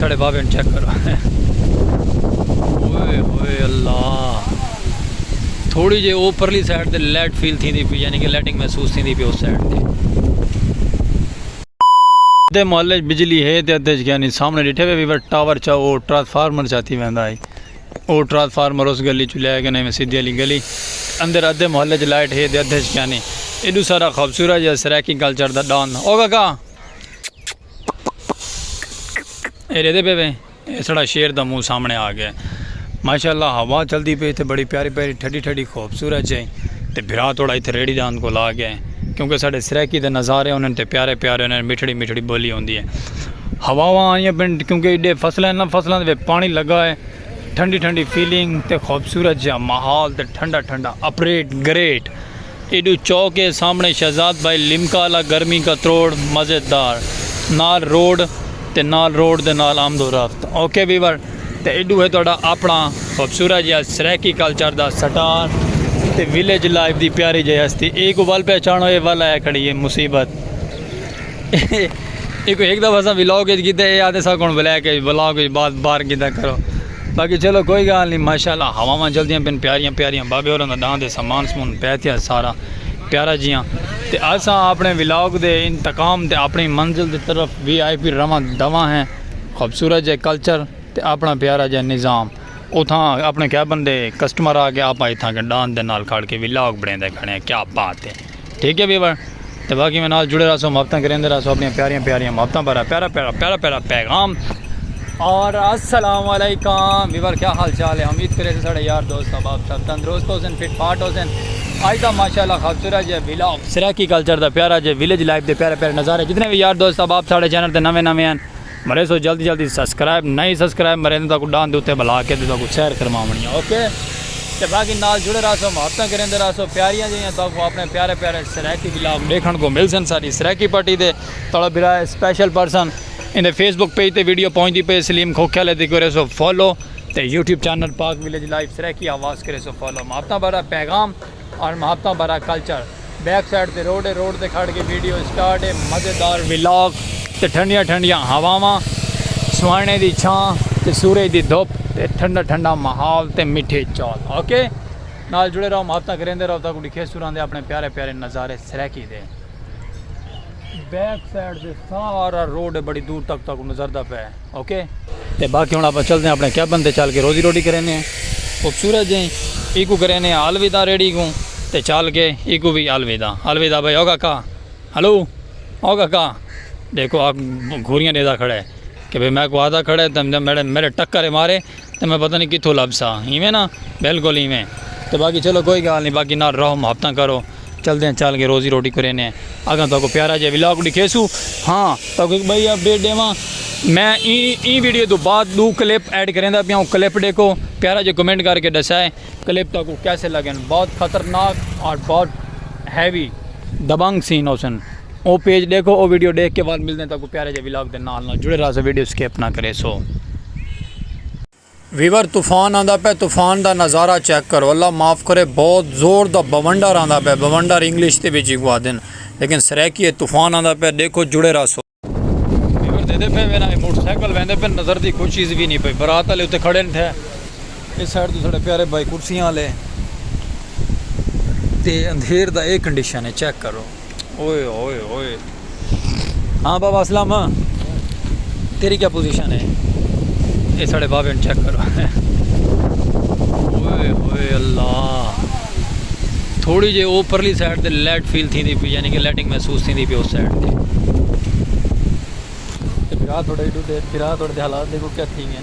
ساڑے بابے نو چیک کرو اوئے ہوئے اللہ تھوڑی جے اوپرلی سائیڈ تے لیٹ فیل تھی دی پی یعنی کہ لیٹنگ محسوس تھی دی پی اس سائیڈ تے دے محلے وچ بجلی ہے تے ادھے یعنی سامنے ڈٹھے وے ویور ٹاور چا او ٹرانسفارمر چاتی ویندا ہے او ٹرانسفارمر اس گلی چ لے کے نہیں سیدھی علی گلی اندر ادھے محلے وچ لائٹ ہے تے ادھے یعنی ایڈو سارا خوبصورت جا سرائیکی کلچر دا ڈان او کاکا اے ریدے پے وے اے سڑا شیر دا منہ سامنے آ گیا ماشاءاللہ ہوا چلدی پی تے بڑی پیاری پیاری ٹھڈی ٹھڈی خوبصورت جے تے بھرا توڑا ایتھے ریڑی دا اند کو لا گیا کیونکہ ساڈے سرائیکی دے نظارے انہاں تے پیارے پیارے انہاں مٹھڑی مٹھڑی بولی ہوندی ہے ہوا وا آئیاں پن کیونکہ ایڈے فصل ہیں نا فصلاں دے پانی لگا ہے ٹھنڈی ٹھنڈی فیلنگ تے خوبصورت جا ماحول تے ٹھنڈا ٹھنڈا اپریٹ گریٹ ایڈو چو کے سامنے شہزاد بھائی لمکا آلا گرمی کا تروڑ مزے دار نال روڈ تے نال روڈ دے نال آمد و رفت اوکے ویور تے ایڈو ہے تہاڈا اپنا خوبصورت جیہا سرائیکی کلچر دا سٹار تے ویلیج لائف دی پیاری جیہی ہستی اے کو ول پہچانو اے ول آیا کھڑی ہے مصیبت اے کو ہک دفعہ اساں ولاگ اچ کیتے اے آدھے ساکوں بلیک اچ ولاگ اچ بات بار کیتا کرو۔ باقی چلو کوئی گال نہیں ماشاءاللہ ہواواں جلدیاں پن پیاریاں پیاریاں بابے ہوراں دا ڈاں دے سامان سمون پے تھیا سارا پیارا جیاں تے اساں اپنے ولاگ دے انتقام تے اپنی منزل دی طرف وی آئی پی رواں دواں ہیں خوبصورت جے کلچر تے اپنا پیارا جے نظام اتھاں اپنے کیبن دے کسٹمر آ کے آپا اتھاں کے ڈاں دے نال کھڑ کے ولاگ بنے دے کھڑے ہیں کیا بات ہے ٹھیک ہے ویور تو باقی میں نال جڑے رہا سو محبتیں کریندے رہا سو اپنی پیاریاں پیاریاں محبتیں پر پیارا پیارا پیارا پیارا پیغام اور السلام علیکم ویور کیا حال چال ہے امید کرے سے ساڑھے یار دوست احباب سب تندرست ہو سن فٹ فاٹ ہو سن آج دا ماشاءاللہ خوبصورت جے ویلاگ سرائیکی کلچر دا پیارا جے ویلیج لائف دے پیارے پیارے نظارے جتنے بھی یار دوست احباب ساڑھے چینل تے نویں نویں ہیں مرے سو جلدی جلدی سبسکرائب نئی سبسکرائب مرے نے تاکو ڈان دے اتے بلا کے دے تاکو سیر کرماونی ہے اوکے تے باقی نال جڑے رہا سو محبتاں کریں دے رہا سو پیاریاں جیاں تاکو اپنے پیارے پیارے سرائیکی بلاگ دیکھن کو مل سن ساری سرائیکی پٹی دے تڑا برائے اسپیشل پرسن ان دے فیس بک پیج تے ویڈیو پہنچ دی پے سلیم کھوکھے لے دی کرے سو فالو تے YouTube channel Pak village life Saraiki آواز کرے سو فالو محبتاں بڑا پیغام آن محبتاں بھرا کلچر بیک سائیڈ تے روڈ اے روڈ تے کھڑ کے ویڈیو اسٹارٹ اے مزیدار ولاگ تے ٹھنڈیاں ٹھنڈیاں ہواواں سوہانے دی چھاں تے سورج دی دھپ تے ٹھنڈا ٹھنڈا ماحول تے میٹھے چول اوکے نال جڑے رہو محبتاں کریندے رہو تاکوں ڈکھے سوراں دے اپنے پیارے پیارے نظارے سرائیکی دے۔ بیک سائیڈ دے سارا روڈ ہے بڑی دور تک تک نظر دا پہ اوکے تے باقی ہن اپا چلدے ہیں اپنے کیبن تے چل کے روزی روٹی کرینے ہیں خوبصورت جیں ایکو کرینے ہیں الوداع ریڈی کو تے چل کے ایکو بھی الوداع الوداع بھائی اوگا کا ہلو اوگا کا دیکھو گھوریاں دیدا کھڑے کہ بھئی میں کو آدھا کھڑے تے میرے میرے ٹکر مارے تے میں پتہ نی کتھوں لبھساں ایویں نا بالکل ایویں تے باقی چلو کوئی گالھ نی باقی نال رہو محبتاں کرو چلدیاں چل کے روزی روٹی کرینے اگاں تہاکوں پیارا جیہا ولاگ ڈکھیسوں ہاں تہاکوں ہک بھائی اپڈیٹ ڈیواں میں ایں ویڈیو توں بعد ڈو کلپ ایڈ کریندا پیاں او کلپ ڈیکھو پیارا جیہا کمنٹ کر کے ڈسائے کلپ تہاکوں کیسے لگن بہت خطرناک اور بہت ہیوی دبنگ سین ہوسن او پیج ڈیکھو او ویڈیو ڈیکھ کے بعد ملدے ہیں تاکہ پیارے جے ولاگ دے نال نال جڑے رہسو ویڈیو سکپ نہ کرے سو۔ ویور طوفان آندا پے طوفان دا نظارہ چیک کرو اللہ معاف کرے بہت زور دا بونڈر آندا پے بونڈر انگلش دے وچ ایکوں آدھن لیکن سرائیکی اچ طوفان آندا پے ڈیکھو جڑے رہسو۔ ویور دیدے پے وینا اے موٹر سائیکل ویندے پے نظر دی کوئی چیز وی نی پئی برات آلے اتے کھڑے نٹھے اس سائیڈ تو ساڈے پیارے بھائی کرسیاں آلے تے اندھیر دا اے کنڈیشن اے چیک کرو۔ اوئے اوئے اوئے ہاں بابا اسلام تیری کیا پوزیشن ہے یہ ساڑے بابے نے چیک کرو اوئے اوئے اللہ تھوڑی جے اوپرلی سائیڈ تے لیٹ فیل تھی دی پی یعنی کہ لیٹنگ محسوس تھی دی پی اس سائیڈ تے پھرا تھوڑے ڈو دے پھرا تھوڑے دے حالات دیکھو کیا تھی گئے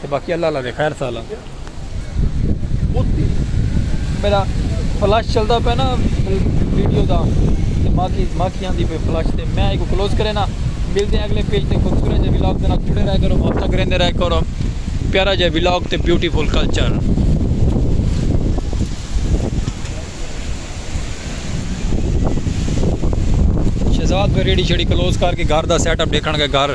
تے باقی اللہ اللہ دے خیر سالا میرا فلش چلدا پیا نا ویڈیو دا تے باقی باقی آندی پہ فلش تے میں ایک کلوز کرے نا ملتے ہیں اگلے پیج تے خوبصورت جے ولاگ دے نال جڑے رہے کرو واپس کریں دے رہے کرو پیارا جے ولاگ تے بیوٹیفل کلچر شہزاد پہ ریڑی شیڑی کلوز کر کے گھر دا سیٹ اپ دیکھن گئے گھر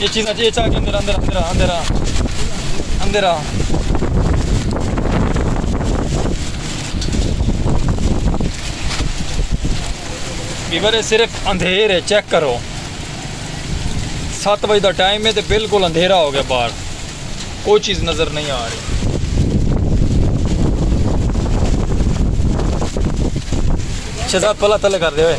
اے چیز اچ اے چا کے اندر اندر اندر اندر اندر بیور صرف اندھیر ہے چیک کرو سات بجے دا ٹائم ہے تو بالکل اندھیرا ہو گیا باہر کوئی چیز نظر نہیں آ رہی شہزاد پلا تلے کر دے ہوئے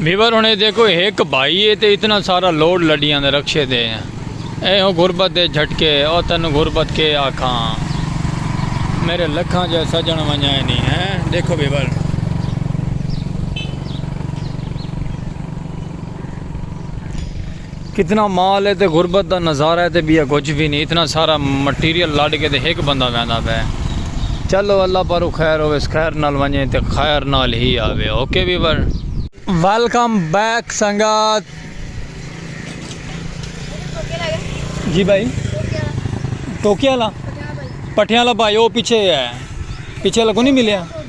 ویور ہوں دیکھو ایک بھائی ہے تو اتنا سارا لوڈ لڈیاں دے رکشے دے اے ہو غربت دے جھٹکے او تین غربت کے آکھاں میرے لکھاں جا سجن ونجا نہیں ہے دیکھو ویور کتنا مال ہے تے غربت دا نظارہ ہے تے بیا کچھ بھی نہیں اتنا سارا مٹیریل لڈ کے تے ہک بندہ ویندا پے چلو اللہ پارو خیر ہوویس خیر نال ونجے تے خیر نال ہی آوے اوکے ویور۔ ویلکم بیک سنگت جی بھائی ٹوکیا لا پٹھیاں لا بھائی او پیچھے ہے پیچھے لگو نہیں ملیا۔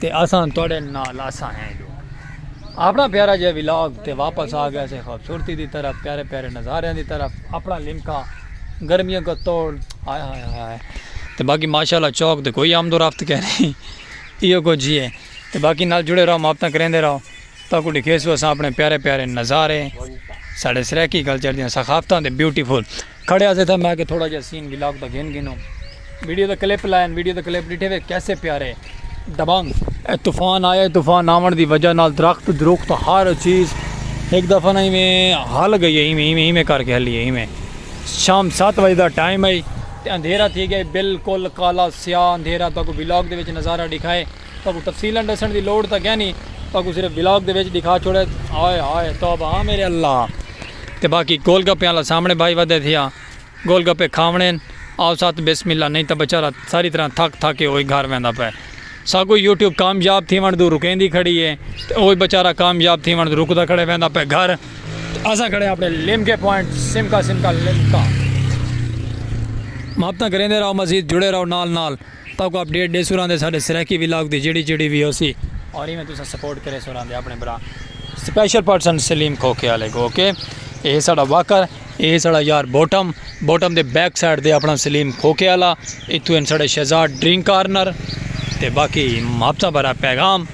تے اساں تہاڈے نال اساں ہیں جو اپنا پیارا جے ولاگ تے واپس آ گیا سے خوبصورتی دی طرف پیارے پیارے نظاریاں دی طرف اپنا لمکا گرمیاں کو توڑ ہائے ہائے ہائے تے باقی ماشاءاللہ چوک تے کوئی آمد و رفت کہہ نہیں ایو کو جی ہے تے باقی نال جڑے رہو محبتاں کریندے رہو تا کو ڈکھیسو اساں اپنے پیارے پیارے نظارے ساڈے سرائیکی کلچر دیاں ثقافتاں دے بیوٹیفل کھڑے آسے تھا میں کہ تھوڑا جا سین ویلاگ دا گھن گھنو ویڈیو دا کلپ لائن ویڈیو دا کلپ ڈٹھے وے کیسے پیارے دبانگ اے طوفان آیا طوفان آون دی وجہ نال درخت دروخت ہر چیز ایک دفعہ نہ ایویں ہل گئی ایویں ایویں ایویں کر کے ہلی ایویں شام 7 بجے دا ٹائم ہے تے اندھیرا تھی گیا بالکل کالا سیاہ اندھیرا تاکو ویلاگ دے وچ نظارہ دکھائے تاکو تفصیلا ڈسن دی لوڑ تاکہ نہیں تاکو صرف ویلاگ دے وچ دکھا چھوڑے ہائے ہائے توبہ ہاں میرے اللہ تے باقی گول گپیں آلا سامنڑے بھائی ودھے تھیا گول گپے کھاونڑیں آو ساتھ بسم اللہ نئیں تاں بچارہ ساری طرح تھک تھک کے اوہی گھر ویندا پئے ساکوں یوٹیوب کامیاب تھیونڑ توں رکیندی کھڑی ہے تے اوہی بچارہ کامیاب تھیونڑ توں رکدا کھڑے ویندا پئے گھر تے اساں کھڑے اپنڑے لیمکے پوائنٹ سمکا سمکا لیمکا محبتاں کریندے رہو مزید جڑے رہو نال نال تہاکوں اپ ڈیٹ ڈیسوں رہندے ساڈے سرائیکی ولاگ دی جیڑھی جیڑھی وی ہوسی اور ایویں تساں سپورٹ کریسوں رہندے اپنے بھرا سپیشل پرسن سلیم کھوکھے والے کو اوکے اے ہے ساڈا واکر اے ہے ساڈا یار بوٹم بوٹم دے بیک سائیڈ دے اپنا سلیم کھوکھے والا اتھوں ہیں ساڈے شہزاد ڈرنک کارنر تے باقی محبتاں بھرا پیغام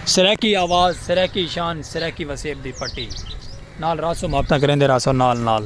سرائیکی آواز سرائیکی شان سرائیکی وسیب دی پٹی نال راسو محبتاں کریندے راسو نال نال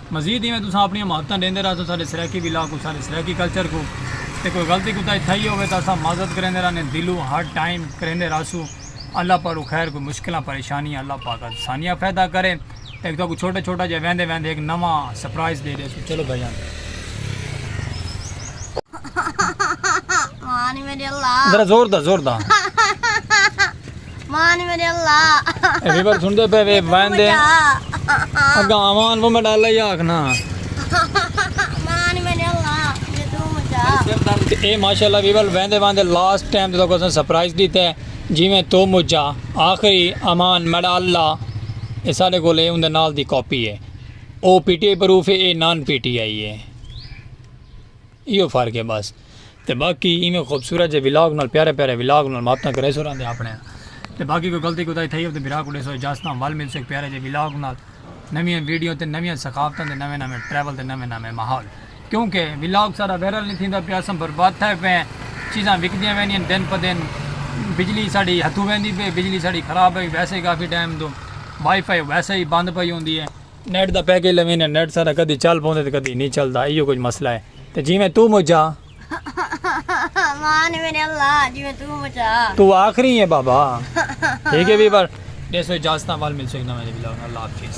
مزید ایویں تساں اپنیاں محبتاں ڈیندے رہسو ساڈے سرائیکی ولاگ کوں ساڈے سرائیکی کلچر کوں تے کوئی غلطی کوتاہی تھئی ہووے تاں اساں معذرت کریندے رہنے دلوں ہر ٹائم کریندے رہسوں اللہ پاروں خیر کوئی مشکلاں پریشانیاں اللہ پاک آسانیاں پیدا کرے تے اک تہاکوں چھوٹا چھوٹا جیہا ویندے ویندے اک نواں سرپرائز ڈے ڈیسوں چلو بھائی جان۔ ذرا زور دا زور دا۔ مان میرے اللہ اے ریور سن دے پہ وے وین دے اگا آمان وہ میں ڈالا ہی آکھنا مان میرے اللہ یہ تو مجھا اے ماشاءاللہ ویور وین دے وین دے لاسٹ ٹائم تو کسن سپرائز دیتا ہے جی میں تو مجھا آخری آمان میں ڈالا اے سارے کو لے اندے نال دی کاپی ہے او پی ٹی آئی پروف ہے اے نان پی ٹی آئی ہے ایہو فرق ہے بس تے باقی ایویں خوبصورت جے ولاگ نال پیارے پیارے ولاگ نال محبتاں کریسو راندے آپنڑیاں تے باقی کوئی غلطی کوتاہی تھئی ہووے تے بھرا کوں ڈیسو اجازت تاں ول ملسوں ہک پیارے جے ولاگ نال نویاں ویڈیو تے نویاں ثقافتاں دے نویں نویں ٹریول تے نویں نویں ماحول کیونکہ ولاگ سارا وائرل نی تھیندا پیا اساں برباد تھئے پئے ہیں چیزاں وکدیاں ویندیاں ہن دن پہ دن بجلی ساڈی ہتھوں ویندی پئی بجلی ساڈی خراب ہوئی ویسے کافی ٹائم توں وائی فائی ویسے ہی بند پئی ہوندی ہے۔ نیٹ دا پیکج لویندے نیٹ ساڈا کدی چل پوندے تے کدی نی چلدا ایہو کجھ مسئلہ ہے تے جیویں توں مجھا۔ امان میرے اللہ جیویں توں مجھا۔ توں آخری ہیں بابا ٹھیک ہے ویور۔ ݙیسوں اجازتاں ول ملسوں ہک نویں ولاگ نال اللہ حافظ۔